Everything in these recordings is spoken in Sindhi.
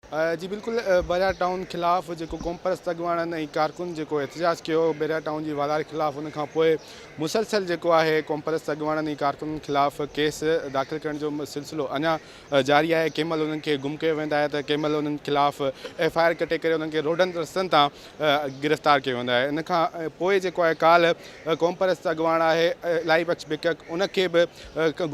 جي بلڪل بحريا ٽائون خلاف جيڪو قومپرست اڳواڻن ۽ ڪارڪن جيڪو احتجاج ڪيو بحريا ٽائون جي والاري خلاف ان کان پوء مسلسل جيڪو آهي قومپرست اڳواڻن ۽ ڪارڪنن خلاف ڪيس داخل ڪرڻ جو سلسلو اڃا جاري آهي ڪنهن مهل انهن کي گم ڪيو ويندو آهي ته ڪنهن مهل انهن خلاف ايف آء آر ڪٽي ڪري انهن کي روڊن رستن تان گرفتار ڪيو ويندو آهي ان کان پوء جيڪو آهي ڪالهه قومپرست اڳواڻ آهي الائي بخش بڪڪ ان کي به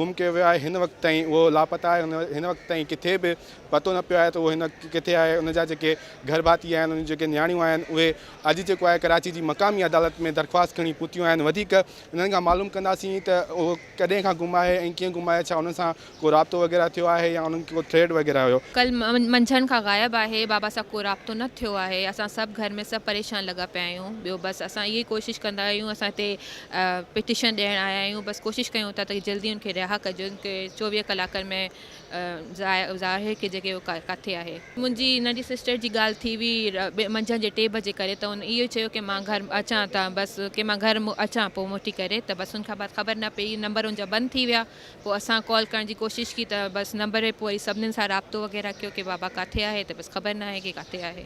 گم ڪيو ويو آهي هن وقت تائين اهو لاپتا آهي هن وقت تائين ڪٿي به پتو نه پيو آهي ته اهو هن وقت ڪٿي آهي، ان جا جيڪي گهر ڀاتي آهن، ان جون جيڪي نياڻيون آهن، اهي اڄ جيڪو آهي ڪراچي جي مقامي عدالت ۾ درخواست کڻي پهتيون آهن، وڌيڪ انهن کان معلوم ڪنداسين ته اهو ڪڏهن کان گم آهي ۽ ڪيئن گم آهي، ڇا انهن سان ڪو رابطو وغيره ٿيو آهي يا انهن کي ڪو ٿريٽ وغيره هيو. ڪل منجهند کان غائب آهي، بابا سان ڪو رابطو نه ٿيو آهي، اسان سڀ گهر ۾ سڀ پريشان لڳا پيا آهيون، ٻيو بس اسان اهو ئي ڪوشش ڪندا آهيون، اسان هتي پٽيشن ڏيڻ آيا آهيون، بس ڪوشش ڪيون ٿا ته جلدي ان کي رها ڪجن، چوويهه ڪلاڪن ۾ ظاهر کي جيڪي اهو ڪاٿي آهي. منهنجي ننڍي سسٽر جي ڳالهه ٿي هئي منجهند جي ٽي بجي ڪري ته هن اهو چيو ڪي مان گهر اچان ته بس ڪي مان گهر اچان پوء موٽي ڪري ته بس ان کان بعد خبر نه پئي نمبر ان جا بند ٿي ويا پوء اسان ڪال ڪرڻ جي ڪوشش ڪئي ته بس نمبر پوء وري سڀنن سان رابطو وغيره ڪيو ڪي بابا ڪاٿي آهي ته بس خبر نه آهي ڪي ڪاٿي آهي.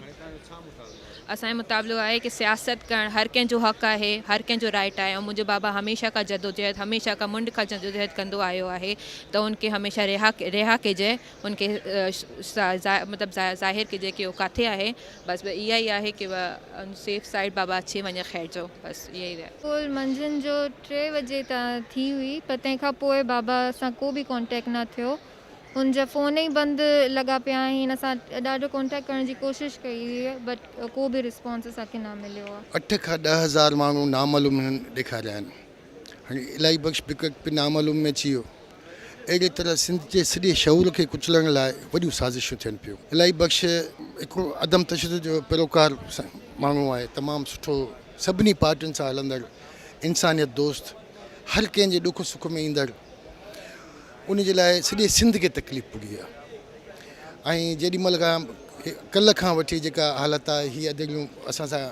اسان جو مطالبو آهي ڪي سياست ڪرڻ هر ڪنهن جو حق آهي هر ڪنهن جو رائٽ آهي ۽ منهنجو بابا هميشه کان جدوجهد هميشه کان منڍ کان جدوجهد ڪندو آيو آهي ته هن کي هميشه رها رها ڪجي هن کي مطلب ظاهر ڪجي ڪي هو ڪاٿي آهي بس اها ئي آهي ڪي سيف سائيڊ بابا اچي وڃي خير جو بس اها ئي رها ڪول منجهند جو ٽي وجي تان ٿي هئي پر تنهن کان پوء بابا سان ڪو به ڪانٽيڪٽ نه ٿيو ان جا فون ئي بند لڳا پيا آهن اسان ڏاڍو ڪانٽيڪٽ ڪرڻ جي ڪوشش ڪئي هئي بٽ ڪو به رسپانس اسان کي نه مليو آهي. اٺ کان ڏهه هزار ماڻهو نامعلوم هنن ڏيکاريا آهن هاڻي الاهي بخش بگٽ به نامعلوم ۾ اچي ويو اهڙي طرح سنڌ جي سڄي شعور کي ڪچلڻ لاء وڏيون سازشون ٿين پيون الاهي بخش هڪڙو عدم تشدد جو پيروڪار ماڻهو آهي تمام سٺو سڀني پارٽين سان هلندڙ انسانيت دوست هر ڪنهن جي ڏک سک ۾ ايندڙ ان جي لاء سڄي سنڌ کي تڪليف پڳي آ ۽ جيڏي مھل کان ڪلھ کان وٺي جيڪا حالت آ ھي ادڙيون اسان سان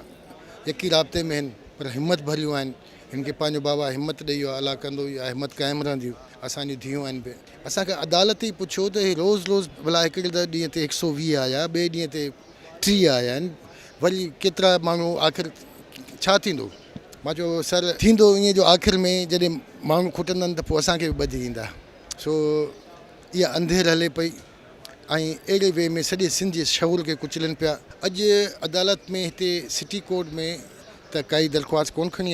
يقي رابطي ۾ ھن پر ھمت ڀريون آھن ھن کي پنھنجو بابا ھمت ڏئي ويو آ الله ڪندو اھا ھمت قائم رھندي اسان جون ڌيون آھن بي اسان کي عدالت ھي پڇيو ته ھي روز روز ڀلا ھڪڙي ته ڏينھن تي ھڪ سؤ ويھ آيا ٻئي ڏينھن تي ٽيھ آيا آھن وري ڪيترا ماڻھو آخر ڇا ٿيندو. مان چيو سر ٿيندو ائين جو آخر ۾ جڏهن ماڻهو کٽندن ته پوء اسان کي به ٻڌي ايندا سو اها انڌير هلي پئي ۽ اهڙي وي ۾ سڄي سنڌ جي شعور کي ڪچلن پيا اڄ عدالت ۾ هتي سٽي ڪورٽ ۾ ته ڪائي درخواست ڪون کڻي آئي